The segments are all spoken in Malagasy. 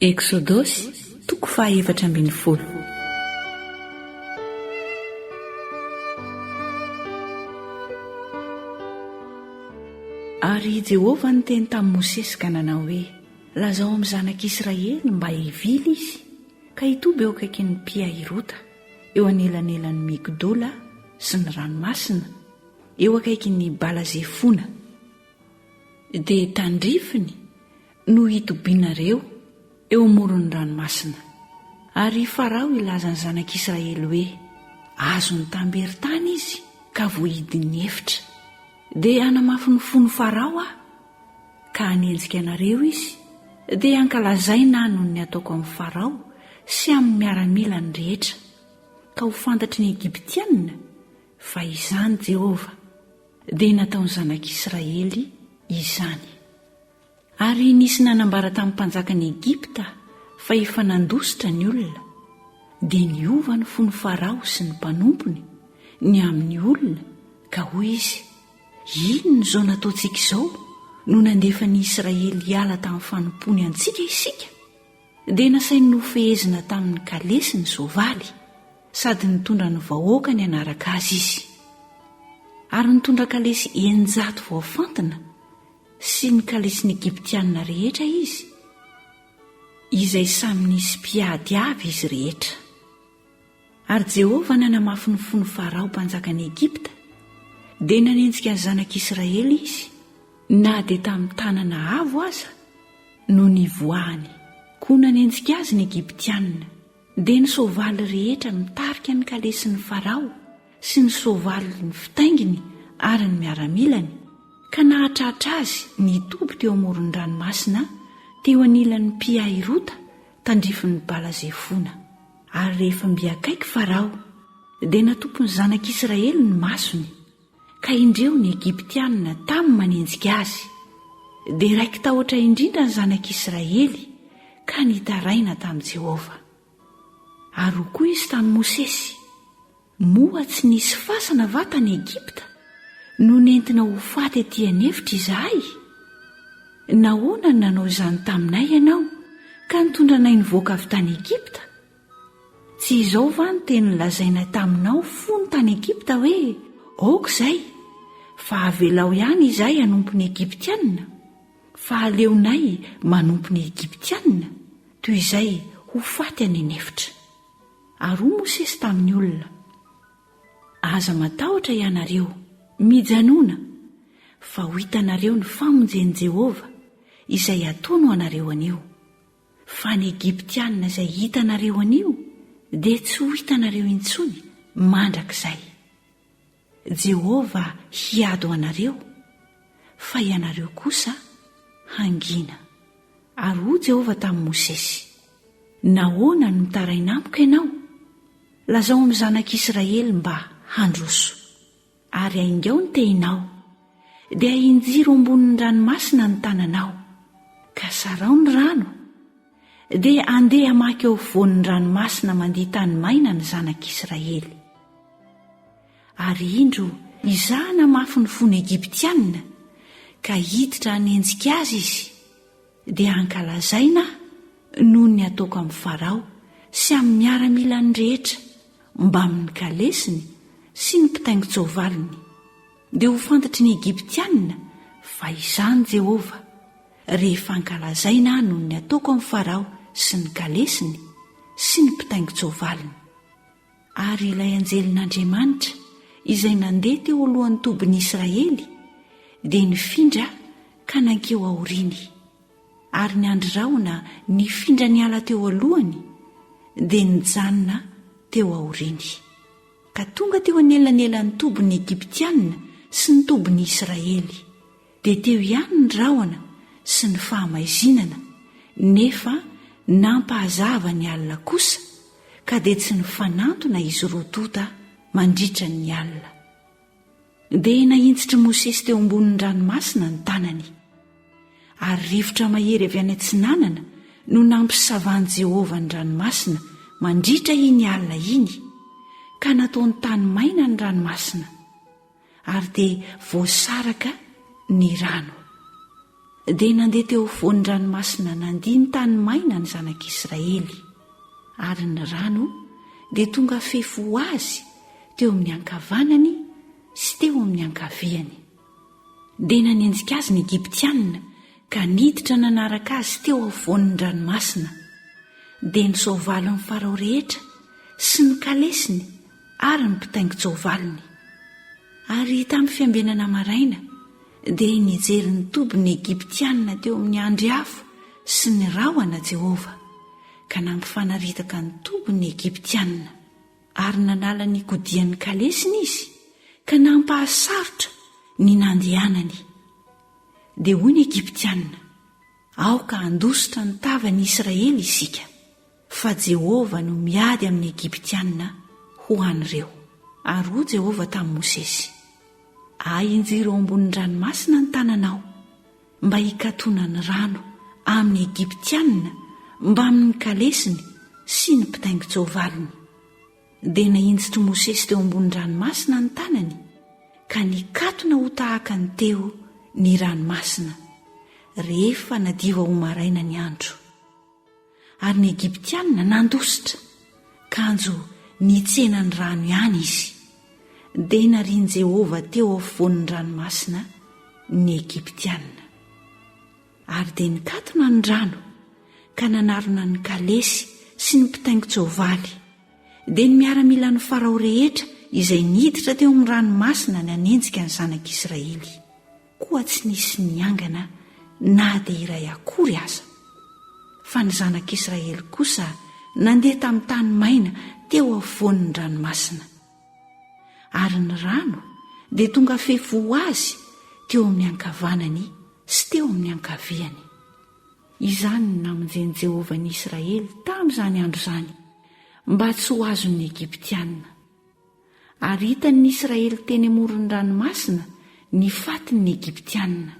Eksodosy, toko fahaefatra ambin'ny folo. Ary i Jehovah niteny tamin'i Mosesy ka nanao hoe, Lazao amin'ny zanak'Israely mba hivily izy, ka hitoby eo akaikin'i Pi-hahirota, eo anelanelan'i Migdola sy ny ranomasina, eo akaikin'i Bala-zefona. Dia tandrifiny no hitobianareo eo amoron'ny ranomasina, ary i Farao hilaza ny zanak'Israely hoe, Azony tamberin-tany izy ka voahidin'ny efitra. Dia hanamafy ny fon'i Farao aho, ka hanenjika anareo izy, dia hankalazaina ahy noho ny ataoko amin'i Farao sy amin'ny miaramilany rehetra, ka ho fantatry ny Egyptianina fa izaho Jehovah, dia nataon'ny zanak'Israely izany. Ary nisy nanambara tamin'ny mpanjakan'i Egypta fa efa nandositra ny olona, dia niova ny fon'i Farao sy ny mpanompony ny amin'ny olona ka hoy izy, Inona izao nataontsika izao no nandefa ny Israely hiala tamin'ny fanompoany antsika isika? Dia nasainy nofehezina tamin'ny kalesy ny soavaly, sady nitondra ny vahoakany hanaraka azy izy. Ary nitondra kalesy eninjato voafantina sy ny kalisin'ny Egyptiana rehetra izy, izay samy nisy mpiady avy izy rehetra. Ary Jehovah nanamafy ny fon'i Farao mpanjakan'i Egypta, dia nanenjika ny zanak'Israely izy, na dia tamin'ny tanana avo aza no nivoahany. Koa nanenjika azy ny Egyptiana. dia ny soavaly rehetra mitarika ny kalesin'i Farao sy ny soavaliny fitainginy ary ny miaramilany, ka nahatratra azy nitoby teo amoron'ny ranomasina teo anilan'i Pi-Hahirota tandrifin'i Bala-Zefona. Ary rehefa mby akaiky Farao, dia natopy ny zanak'Israely ny masony, Ka indreo ny Egyptianina tamin'ny manenjika azy, dia raiki-tahotra indrindra ny zanak'Israely ka nitaraina tamin'i Jehovah. Ary hoy koa izy tamin'i Mosesy, Moa tsy nisy fasana va tany Egypta no nentina ho faty etỳ an'efitra izahay? Nahoana no nanao izany taminay ianao ka nitondra anay nivoaka avy tany Egypta? Tsy izao va no teny nolazainay taminao fony tany Egypta hoe, Aoka izay, fa avelao ihany izahay hanompo ny Egyptiana, fa aleonay manompo ny Egyptiana, toy izay ho faty any an'efitra. Ary hoy Mosesy tamin'ny olona, Aza matahotra ianareo, mijanòna, fa ho hitanareo ny famonjen'i Jehovah, izay hatono anareo anio. Fa ny Egyptiana izay hitanareo anio dia tsy ho hitanareo intsony mandrakizay. Jehovah hiado anareo, fa ianareo kosa hangina. Ary hoy Jehovah tamin'i Mosesy, Nahoana no mitaraina amiko ianao? Lazao amin'ny zanak'Israely mba handroso. Ary haingao ny tehinao. Dia hinjiro ambonin'ny ranomasina ny tananao, ka sarao ny rano. Dia handeha hamaky eo afovoan'ny ranomasina mandia tany maina ny zanak'Israely. Ary indro, Izaho namafy ny fon'ny Egyptianina, ka hiditra hanenjika azy izy, dia hankalazaina aho noho ny ataoko amin'i Farao sy amin'ny miaramilany rehetra, mbamin'ny kalesiny sy ny mpitaingin-tsoavaliny. Dia ho fantatry ny Egyptianina fa izaho Jehovah, rehefa hankalazaina aho noho ny ataoko amin'i Farao sy ny kalesiny sy ny mpitaingin-tsoavaliny. Ary ilay anjelin'Andriamanitra izay nandeha teo alohan'ny tobin'ny Israely dia nifindra ka nankeo aoriany, ary ny andry rahona nifindra niala teo alohany dia nijanona teo aoriany, ka tonga teo anelanelan'ny tobin'ny Egyptiana sy ny tobin'ny Israely, dia teo ihany ny rahona sy ny fahamaizinana nefa nampahazava ny alina kosa ka dia tsy nifanantona izy roa tonta mandritra ny alina. Dia nahintsitr'i Mosesy teo ambonin'ny ranomasina ny tanany. Ary rivotra mahery avy any atsinanana no nampisavan'i Jehovah ny ranomasina mandritra iny alina iny, ka nataony tany maina ny ranomasina. ary dia voasaraka ny rano. Dia nandeha teo afovoan'ny ranomasina nandia ny tany maina ny zanak'Israely, ary ny rano dia tonga fefy ho azy teo amin'ny ankavanany sy teo amin'ny ankaviany. Dia nanenjika azy ny Egyptianina ka niditra nanaraka azy teo afovoan'ny ranomasina. Dia ny soavalin'ny Farao rehetra sy ny kalesiny ary ny mpitaingin-tsoavaliny. Ary tamin'ny fiambenana maraina, dia nijery ny toby ny Egyptianina teo amin'ny andry afo sy ny rahona Jehovah, ka nampifanaritaka ny toby ny Egyptianina. Ary nanala ny kodian'ny kalesiny izy, ka nampahasarotra ny nandehanany. Dia hoy ny Egyptianina, Aoka handositra ny tavan'i Israely isika. Fa Jehovah no miady amin'ny Egyptiana ho an'ireo. Ary hoy Jehovah tamin'i Mosesy, Ahinjiro ao ambonin'ny ranomasina ny tananao, mba hikatonan'ny rano amin'ny Egyptiana mbamin'ny kalesiny sy ny mpitaingin-tsoavaliny. Dia nahinjitr'i Mosesy teo ambonin'ny ranomasina ny tanany, ka nikatona ho tahaka ny teo ny ranomasina, rehefa nadiva ho maraina ny andro. Ary ny Egyptianina nandositra, kanjo nitsena ny rano ihany izy. Dia narian'i Jehovah teo afovoan'ny ranomasina ny Egyptianina. Ary dia nikatona ny rano, ka nanarona ny kalesy sy ny mpitaingin-tsoavaly. Dia ny miaramilan'i Farao rehetra izay niditra teo amin'ny ranomasina nanenjika ny zanak'Israely. koa tsy nisy niangana na dia iray akory aza. Fa ny zanak'Israely kosa nandeha tamin'ny tany maina teo afovoan'ny ranomasina. Ary ny rano dia tonga fefo ho azy teo amin'ny ankavanany sy teo amin'ny ankaviany. Izany no namonjen'i Jehovah ny Israely tamin'izany andro izany, mba tsy ho azon'ny Egyptiana. Ary hitan' ny Israely teny amoron' ny ranomasina ny fatin' ny Egyptiana.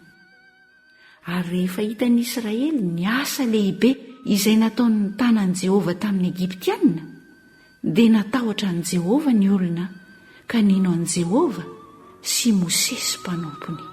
Ary rehefa hitan' ny Israely ny asa lehibe izay nataon' ny tànan' i Jehovah tamin' ny Egyptiana, dia natahotra an'i Jehovah ny olona ka nino an'i Jehovah sy Mosesy mpanompony.